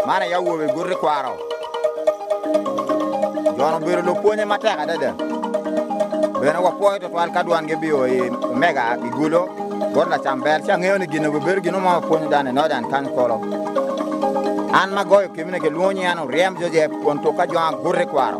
Man aye awobe guti kwaro Jon obedo lupwonye matek adada bene wapwoyo tutwal ka dwan gibio i omega i gulo bot lacam bel ci angeyo ni gine bedo gino ma wapwonyo dan i nodan kan kolo an ma goyo kemine kilwongo nying an oryem jojep kun tuka jonga guti kwaro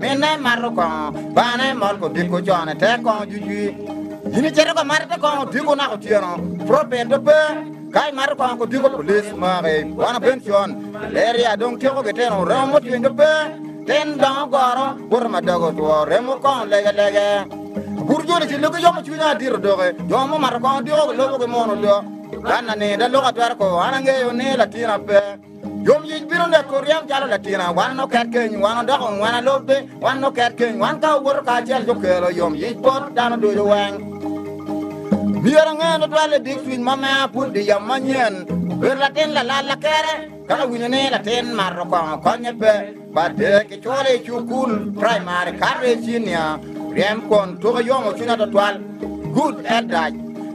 Minne mato kongo, bane mol kodiko cone te kongo jujwi. In icito ka mato te kongo diko naka otyeno, propet to pe. Ka imato kongo kodiko pulis maki, wana ben con. Malaria dong tyeko gitino, remo motwiny to pe. Tin dongo goro, buto madoge otwo, remo kongo lege lege. Bur joni ci lugi yomo cwinya adito doki, jo mumato kongo diko gilubo ki muno do. Ka nani da luka twero ko, an angeyo ni latina pe. Yom yic bino neko ryem calo latina, wan oket keny, wan odoko ngwana lobbe, wan oket keny, wan ka owoto kacel jo kelo yom yic bot dano ducu weng. Myero angen tutwal i big cwiny ma mea pud di yam manyen, obedo latin lalal lakere, ka awinyo ni latin mato kongo konye pe, bade ki cwole i cukul, primary, kato i cinia, ryem kwon tuke yomo cwinya tutwal. Good elders.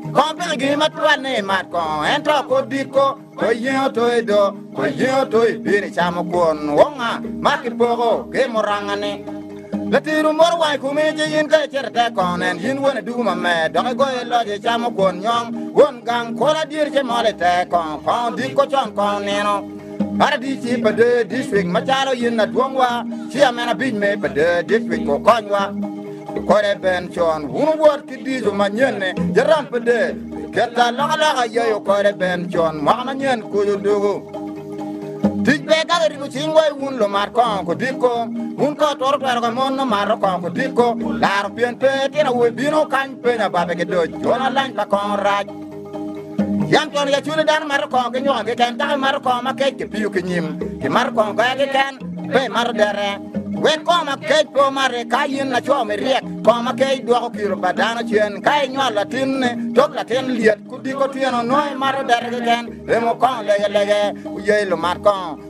Kongo piki gini matwal ni imat kongo, ento kor diko. Oye oto i do, oye oto i bin i camo kwon wonga ma kipoko ki murangane. Latino moro wang i kumi ci in ka icito ite kong nen in won idugu mamer dok igoyo iloc icamo kwon nyong won gang kolo adyeri ce mol ite kong kong odiko con kong nino. Paradic ci pa dee district macalo in adwongwa ci amena bic me pa dee district okonywa. Kode ben con wun wot ki dijo manyenne jaram pe de keta loka loka yayo kode ben con mwaka manyen koyo dogo tic pe ka ribo cing wai wun lo mar kong ko diko wun ko toro twero ka mon no mar kong ko diko laro pien pe tino woi bino kany penya babe ke doj jona lany pa kong rac Yam twon yacwiny ni dano mato kongo ki nyuka keken, dako imato kongo ma kec kipiyo ki nyim, imato kongo goya keken, pe imato dere. Wek kongo ma kec pe omate, ka in laco miryek, kongo ma kec dwoko kiro pa dano cen. Ka inywalo latinni, tok latin lyet, kudiko twino, nongo imato dere keken, remo kongo lege lege, wuye lumat kongo.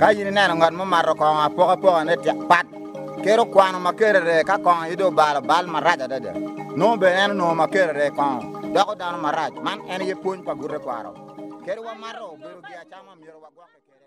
Ka in ineno ngat mo mato kongo apokapokane pat, kit okwano ma kerere ka kongo aye dong obalo bal marac adada. Nongo bene en onongo ma kerere kongo doko dano marac. Man en aye pwony pa bute kwaro. Kadi wamato obedo giacama, myero wagwokke kwede.